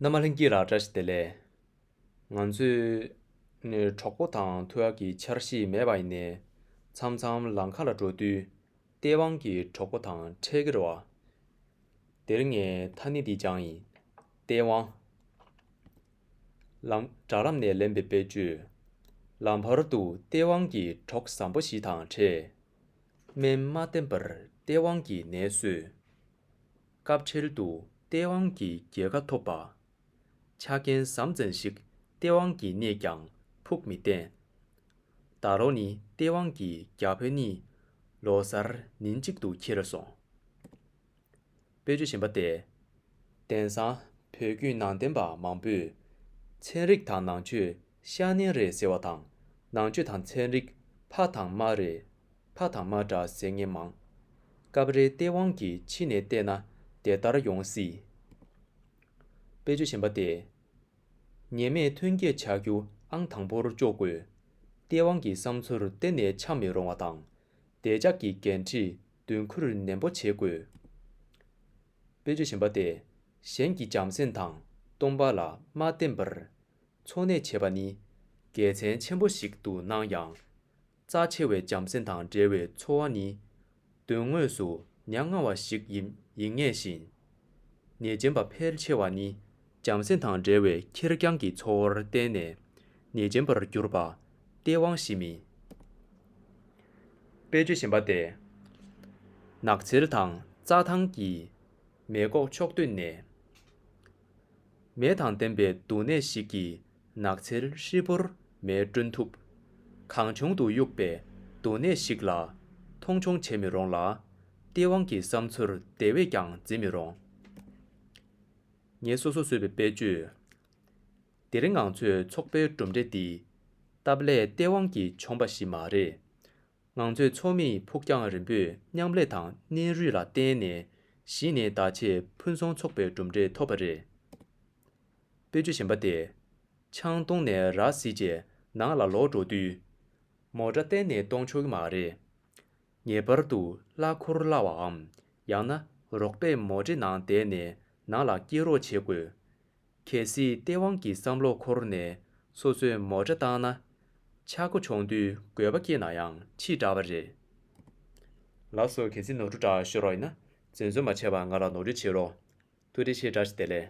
ནམ་མ་ལྷན་སྐྱེས་ར་བཀྲ་ཤིས་བདེ་ལེགས། ང་ཚོས་ནི་གྲོགས་པོ་དང་ཐུགས་ཡག་གི་འཆར་གཞི་མེད་པ་ཡིན་ནས་མཚམས་མཚམས་ལམ་ཁ་ལ་འགྲོ་དུས་སྟེས་དབང་གི་གྲོགས་པོ་དང་འཕྲད་ཀྱི་རེད་བ། དེར་ངའི་ཐ་སྙད་འདི་སྦྱངས་ཡིན། སྟེས་དབང། ལམ། དྲྭ་ལམ་ནས་ལེན་པའི་དཔེ་བརྗོད། ལམ་བར་དུ་སྟེས་དབང་གི་གྲོགས་བཟང་པོ་ཞིག་དང་འཕྲད། སྨན་མ་བསྟེན་པར་སྟེས་དབང་གི་ནད་གསོས། སྐབས་འཕྲལ་དུ་སྟེས་དབང་གི་རྒྱལ་ཁ་ཐོབ་པ། ཆ་རྐྱེན་ཟམ་ཙམ་ཞིག་སྟེས་དབང་གི་གནས་ཀྱང་ཕུགས་མི་བརྟན། ད་ལོ་ནི་སྟེས་དབང་གི་རྒྱ་བོད་གཉིས་ལོ་གསར་ཉིན་གཅིག་ཏུ་འཁྱེར་སོང། དཔེ་ཆུ་ཞེན་པ་སྟེ། དེང་སང་བོད་བརྒྱུད་ནང་བསྟན་པ་མང་པོས་ཚན་རིག་དང་ནང་ཆོས་ཤ་ནན་རེད་ཟེར་བ་དང། ནང་ཆོས་དང་ཚན་རིག། ཕ་དང་མ་རེད། ཕ་དང་མ་འདྲ་ཟེར་ངེས་མང། སྐབས་རེ་སྟེས་དབང་གིས་ཕྱི་ནས་བལྟས་ན་དེ་ལྟར་ཡོང་སྲིད། དཔེ་ཆོས་གཞན་པ་སྟེ། ཉེས་མེད་ཐོན་སྐྱེད་བྱ་རྒྱུ་ཨང་དང་པོར་གཅོག་དགོས། སྟེས་དབང་གི་བསམ་ཚུལ་གཏན་ནས་འཆམ་མི་རུང་བ་དང། བདེ་འཇགས་ཀྱི་འགན་འཁྲི་མདུན་འཁུར་ནན་པོ་བྱེད་དགོས། དཔེ་ཆོས་གཞན་པ་སྟེ། གཞན་གྱི་བྱམས་སེམས་དང་སྟོང་པ་ལ་མ་བརྟེན་པར། འཚོ་གནས་བྱེད་པ་ནི་དགེ་མཚན་ཆེན་པོ་ཞིག་ཏུ་སྣང་ཡང། རྩ་ཆེ་བའི་བྱམས་སེམས་དང་འབྲེལ་བའི་འཚོ་བ་ནི་དོན་དངོས་སུ་ཉམ་ང་བ་ཞིག་ཡིན་ངེས་ཤིང། ཉེས་ཅན་པ་ཕལ་ཆེ་བ་ནི་བྱམས་སེམས་དང་འབྲེལ་བའི་ཁེར་རྐྱང་གི་འཚོ་བར་བརྟེན་ནས་ཉེས་ཅན་པར་གྱུར་པ་སྟེས་དབང་བཞི་མིན་པའི་རྒྱུ་བཞིན་པ་སྟེ། ནགས་ཚལ་དང་རྩྭ་ཐང་གི་མེ་འགོག་ཕྱོགས་བསྟུན་ནས། མེ་དང་ལྡན་པའི་འདུག་གནས་ཤིག་གིས་ནགས་ཚལ་ཧྲིལ་པོར་མེའི་སྐྲུན་ཐུབ། གང་བྱུང་དུ་གཡུགས་པའི་འདུག་གནས་ཤིག་ལ་མཐོང་ཆུང་བྱེད་མི་རུང་ལ། སྟེས་དབང་གི་བསམ་ཚུལ་དེ་བས་ཀྱང་འཛིན་མི་རུང། ངས་སོ་སོར་བཟོས་པའི་དཔེ་བརྗོད་དེ་རིང་ང་ཚོས་ཚོགས་པའི་གྲུབ་འབྲས་འདི། སྟབས་ལེགས་སྟེས་དབང་གིས་བྱུང་པ་ཞིག་མ་རེད། ངང་ཚུལ་མཚོ་མེ་ཡི་ཕུགས་རྒྱང་རིང་པོས་མཉམ་ལས་དང་སྣེ་རུས་ལ་བརྟེན་ནས་གཞི་ནས་བདག་གཅེས་ཕུན་སུམ་ཚོགས་པའི་གྲུབ་འབྲས་ཐོབ་པ་རེད། སྤོས་ཆུ་ཞན་པ་སྟེ། ཆང་བཏུངས་ནས་ར་བཟི་རྗེས་ནང་ལ་ལོག་འགྲོ་དུས། མོ་སྒྲ་གཏན་ནས་གཏོང་ཆོག་གི་མ་རེད། ངེས་པར་དུ་གླ་འཁོར་བརླ་བའམ་ཡང་ན་རོགས་པས་མོ་འདྲེ་ནང་བསྡད་ནས་ནང་ལ་སྐྱེལ་རོགས་བྱེད་དགོས། གལ་སྲིད་སྟེས་དབང་གི་བསམ་བློ་འཁོར་ནས་སོ་སོས་མོ་ཁྲ་བཏང་ན། ཆག་སྒོ་འབྱུང་དུས་དགོས་པ་སྐྱེས་ན་ཡང་ཕྱིས་འདྲ་བ་རེད། ལགས་སོ་གལ་སྲིད་ནོར་འཁྲུལ་འདྲ་ཤོད་རོགས་ཡིན་ན་བཙན་བཟོད་མ་བྱས་པར་ང་ལ་ནོར་འཁྲུལ་བྱེད་རོགས། ཐུགས་རྗེ་ཆེ་བཀྲ་ཤིས་བདེ་ལེགས།